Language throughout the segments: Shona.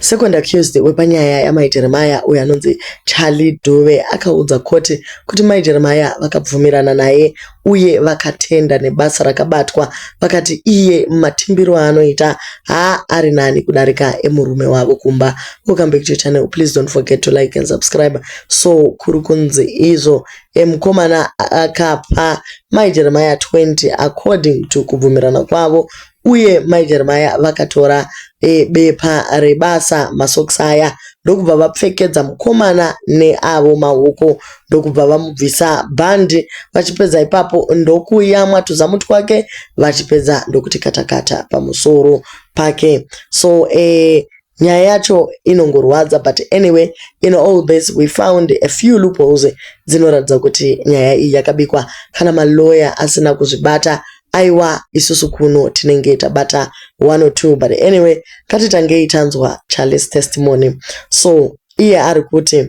Second accused wepanyaya yaMai Jeremiah uyo anonzi Charlie Dube akaudza koti kuti Mai Jeremiah vakabvumirana naye uye vakatenda nebasa rakabatwa vakati iye matimbiro aanoita haa ari nani kudarika emurume wavo kumba. Welcome back to your channel. Please don't forget to like and subscribe. So kuri kunzi izvo mukomana akapa Mai Jeremiah 20 according to kubvumirana kwavo Uye mai Jeremiah vakatora e, bepa rebasa masocks aya ndokubva vapfekedza mukomana neavo maoko ndokubva vamubvisa bhandi vachipedza ipapo ndokuyamwa tuzamu twake vachipedza ndokuti katakata pamusoro pake so e, Nyaya yacho inongorwadza but anyway in all this we found a few loopholes dzinoratidza kuti nyaya iyi yakabikwa kana malawyer asina kuzvibata aiwa isusu kuno tinenge tabata one or two but anyway katitangei tanzwa Charles testimony so iye ari kuti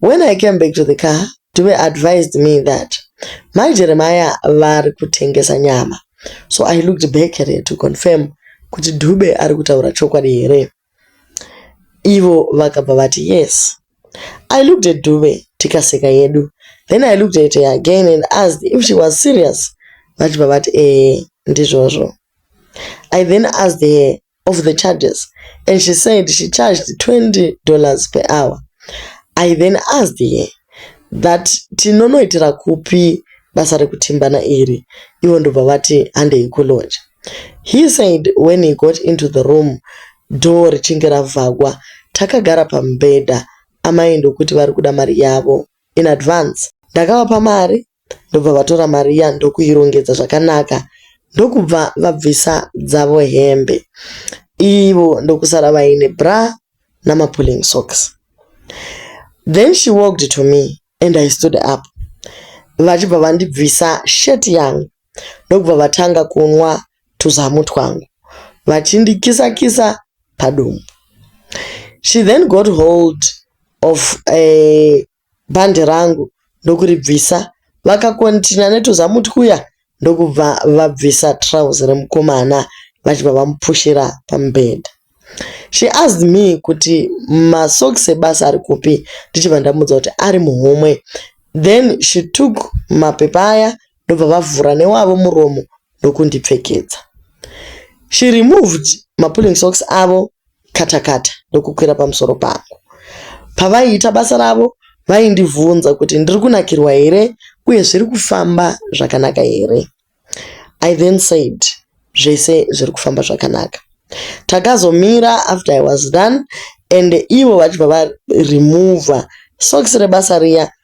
When I came back to the car, Dube advised me that Mai Jeremiah vari kutengesa nyama. So I looked back at her to confirm kuti Dube ari kutaura chokwadi here. Ivo vakabva vati yes. I looked at Dube tikaseka yedu. Then I looked at her again and asked if she was serious. Vachibva vati eh ndizvozvo. I then asked her of the charges and she said she charged 20 dollars per hour. I then asked her that tinonoitira kupi basa rekutimbana iri ivo ndobva vati handei kulodge. He said when he got into the room door richinge ravhagwa takagara pamubhedha amai ndokuti vari kuda mari yavo in advance. Ndakavapa mari ndobva vatora mari iya ndokuirongedza zvakanaka ndokubva vabvisa dzavo hembe ivo ndokusara vaine bra namapulling socks then she walked to me and i stood up vachibva vandibvisa shirt yangu ndokubva vatanga kunwa tuzamu twangu vachindikisa kisa padumbu she then got hold of a eh, bhande rangu ndokuribvisa. Vakakonhitinha netuzamu twuya ndokubva vabvisa trouse remukomana vachibva vamupushira pamubhedha. She asked me kuti masocks ebasa ari kupi ndichibva ndamuudza kuti ari muhomwe. Then she took mapepa aya ndobva vavhura newavo muromo ndokundipfekedza. She removed mapulling socks avo kata kata ndokukwira pamusoro pangu. Pavaiita basa ravo vaindivhunza kuti ndiri kunakirwa here uye zviri kufamba zvakanaka here. I then said zvese zviri kufamba zvakanaka. Takazomira after I was done and ivo vachibva varemover socks rebasa riya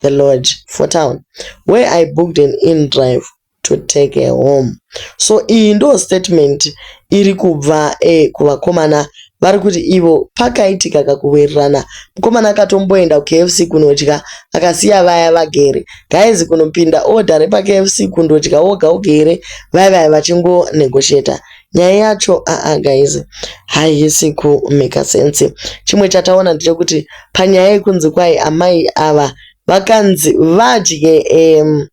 the lodge for town where I booked an in drive to take her home so iyi ndo statement iri kubva eh, kuvakomana vari kuti ivo pakaitika kakuwirirana mukomana akatomboenda kukfc kunodya akasiya vaya vagere gaizi kunopinda oda repakfc kundodya woga woga here vaya vaya vachingonegotiata nyaya yacho aa guys haisi kumaker sense chimwe chataona ndechekuti panyaya yekunzi kwai amai ava vakanzi vadye um,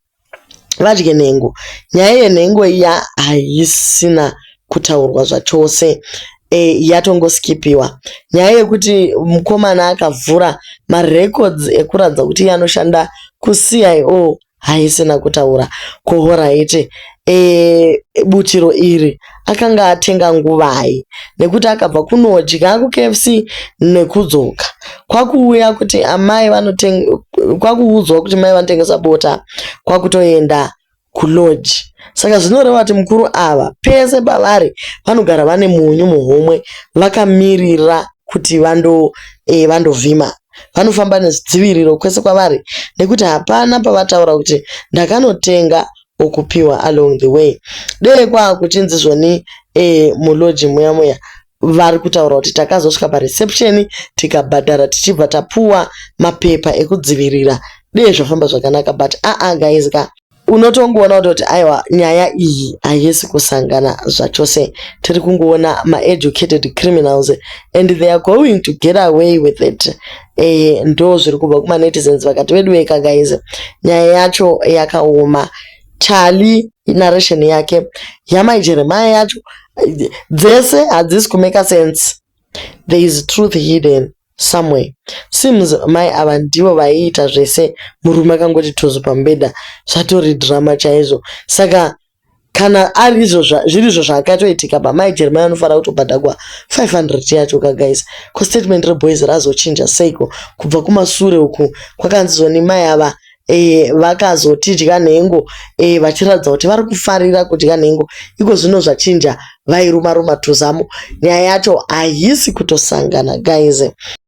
vadye nhengo nyaya yenhengo iya haisina kutaurwa zvachose e, yatongoskipiwa nyaya yekuti mukomana akavhura marecords ekuratidza kuti iye anoshanda kucio haisina kutaura ko horaiti e, butiro iri akanga atenga nguvai nekuti akabva kunodya kukfc nekudzoka kwakuuya kuti amai kwakuudzwa kuti mai vanotengesa bota kwakutoenda kulodge saka zvinoreva kuti mukuru ava pese pavari vanogara vane munyu muhomwe vakamirira kuti vando e, vandovhima vanofamba nezidziviriro kwese kwavari nekuti hapana pavataura kuti ndakanotenga okupiwa along the way dee kwaakuchinzi zvoni e, muloji muya muya vari kutaura kuti takazosvika pareception tikabhadhara tichibva tapuwa mapepa ekudzivirira dee zvafamba zvakanaka but aa ah, ah, guys ka unotongoona kutoti aiwa nyaya iyi haisi kusangana zvachose tiri kungoona maeducated criminals and they are going to get away with it e, ndo zviri kubva kumanetizens vakati veduweka guys nyaya yacho yakaoma chali narration yake yamai jeremaya yacho dzese hadzisi kumeka sense there is truth hidden somewhere. Seems mai ava ndivo vaiita zvese murume akangoti tuzu pamubhedha zvatori drama chaizvo. Saka kana arizvo zvirizvo zvakatoitika apa mai Jeremiah vanofanira kutobhadhagwa 500 yacho ka guys. Ko statement reboys razochinja seiko kubva kumasure uku kwakanzi zoni mai ava e, vakazotidya nhengo e, vachiratidza kuti vari kufarira kudya nhengo iko zvino zvachinja vairuma ruma tuzamu nyaya yacho haisi kutosangana guys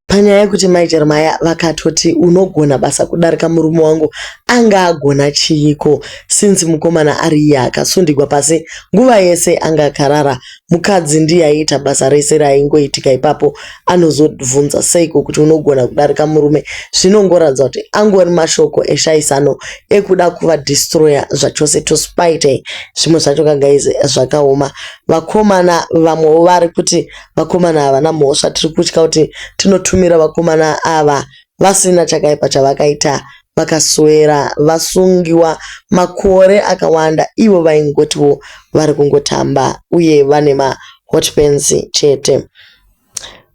panyaya yekuti mai jeremaya vakatoti unogona basa kudarika murume wangu anga agona chiiko since mukomana ari iye akasundigwa pasi nguva yese anga akarara Mukadzi ndiye aiita basa rese raingoitika ipapo anozobvunza seiko kuti unogona kudarika murume zvinongoratidza kuti angori mashoko eshaisano ekuda kuva destroyer zvachose to spite zvimwe zvacho ka guys zvakaoma vakomana vamwewo vari kuti vakomana havana mhosva tiri kutya kuti tinotumira vakomana ava vasina chakaipa chavakaita vakaswera vasungiwa makore akawanda ivo vaingotiwo vari kungotamba uye vane ma hot pants chete.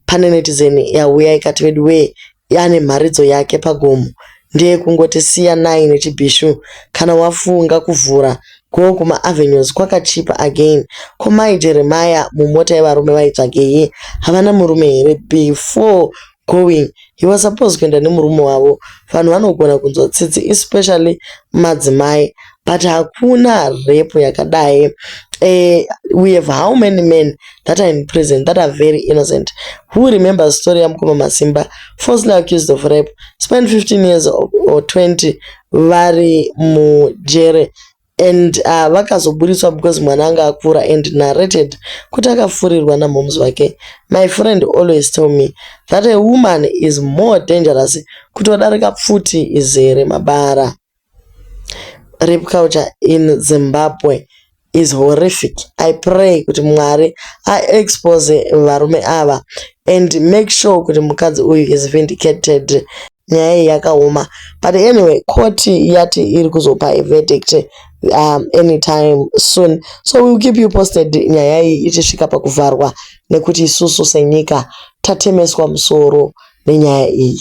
Pane netizen yauya ikati veduwee ane mharidzo yake pagomo ndeyekungoti siyanai nechibhishu kana wafunga kuvhura go kuma avenues kwakachipa again ko mai jeremiah mumota yevarume vaitsvagei havana murume here before going he was supposed kuenda nemurume wavo vanhu vanogona kunzwa tsitsi especially madzimai but hakuna rape yakadai uh, we have how many men that are in prison that are very innocent who remember story yamukoma masimba falsely accused of rape spend 15 years or 20 vari mujere and uh, vakazoburitswa because mwana anga akura and narrated kuti akafurirwa namoms vake my friend always tell me that a woman is more dangerous kutodarika pfuti izere mabara rape culture in zimbabwe is horrific i pray kuti mwari aexpose varume ava and make sure kuti mukadzi uyu is vindicated nyaya iyi yakaoma but anyway court yati iri kuzopa verdict um, anytime soon so we'll keep you posted nyaya iyi ichisvika pakuvharwa nekuti isusu senyika tatemeswa musoro nenyaya iyi